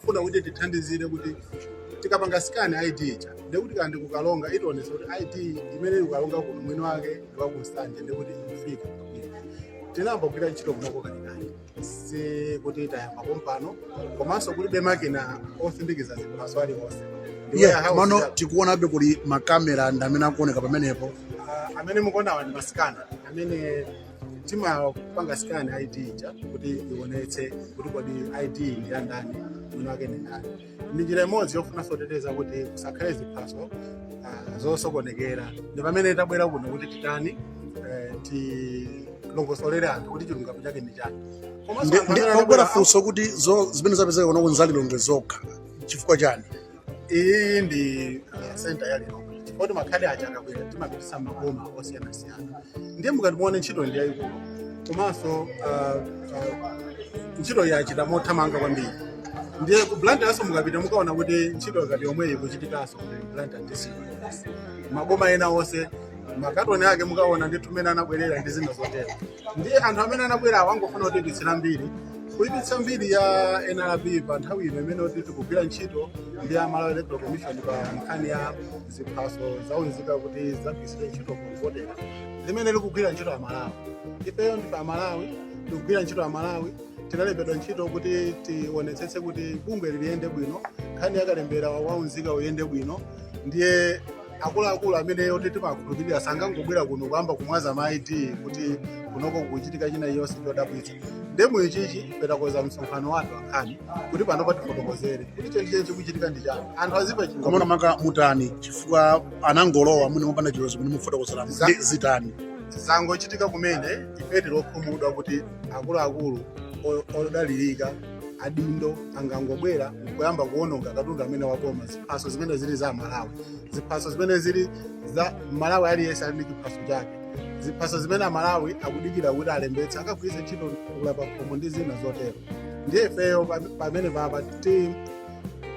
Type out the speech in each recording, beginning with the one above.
funa kuti tithandizire kuti tikapanga scan id ija ndekuti ka ndikukalonga itionetse kuti id imene tikukalonga kuno mwini wake ndi waku Nsanje ndekuti ikufika tinayamba kugwira ntchito kunoko kalekale si kuti tayamba pompano komanso kulibe makina osindikiza ziphaso aliwonse Ndi warehouse Komano tikuonabe kuli makamera ndi amene akuoneka pamenepo Ah, amene mukuonawa ndi masikana amene timapanga scan id ija kuti ionetse kuti kodi id ndi ya ndani mwini wake ndi ndani ndi njira imodzi yofunanso kuteteza kuti kusakhale ziphaso ah, zosokonekera ndi pamene tabwera kuno kuti titani eh, tilongosolere anthu kuti chilungamo chake ndi chani Ndi kwabwera funso kuti zo- zimene zapezeka kuno kuti nza Lilongwe zokha chifukwa chani iyi ndi ah, center ya lilongwe chifukwa choti makhadi aja akabwera timapitisa maboma osiyanasiyana ndiye mukati muone ntchito ndi yayikulu komanso ah, ah, ntchito yachitika mothamanga kwambiri ndiye ku blantyreso mukapita mukaona kuti ntchito ngati yomweyi ikuchitikaso blantyre ndisiyo maboma ena onse makatoni ake mukaona ndi mmene anabwerera ndi zina zotero ndiye anthu amene anabwerawo angofuna kuti aipitse mbiri kuipitsa mbiri ya nrb pa nthawi ino imene kuti tikugwira ntchito ndi a malawi electoral commission pa nkhani ya ziphaso zaunzika kuti zikagwiritsidwe ntchito kuvotera limene likugwira ntchito ya amalawi ifeyo ndife amalawi tikugwira ntchito ya amalawi tinalembedwa ntchito kuti tionetsetse kuti bungweli liyende bwino nkhani yakalembera waunzika iyende bwino ndiye akuluakulu amene oti timakhulupirira sangangobwera kuno kuyamba kumwaza ma id kuti kunoko kuchitika china chonse chodabwitsa nchifukwa chake takonza msonkhano wa atolankhani kuti pano patifotokozere kuti chenicheni chikuchitika ndi chani anthu adziwe komano makamaka mutani chifukwa anangolowa mwina mopanda chilolezo kuti mufotokozere Za- ndi zitani zangochitika kumene ife tilokhumudwa kuti akuluakulu o- odalirika adindo angangobwera nkuyamba kuononga katundu amene waboma ziphaso zimene zili za malawi ziphaso zimene zili za malawi aliyense ali ndi chiphaso chake ziphaso zimene amalawi akudikira kuti alembetse akagwiritse ntchito kugula pakhomo ndi zina zotero ndiye ifeyo pam- pamene papa ti-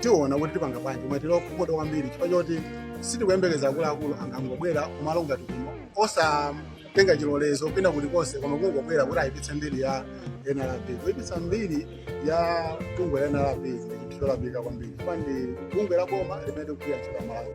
tiona kuti tipanga bwanji koma tilokhumudwa kwambiri chifukwa choti sitikuyembekeza akuluakulu angangobwera kumalo ngati kuno osatenga chilolezo kwina kulikonse koma kungobwera kuti ayipitse mbiri ya nrb kuyipitsa mbiri ya bungwe la nrb ndi chinthu cholakwika kwambiri chifukwa ndi bungwe la boma limene likugwira ntchito ya amalawi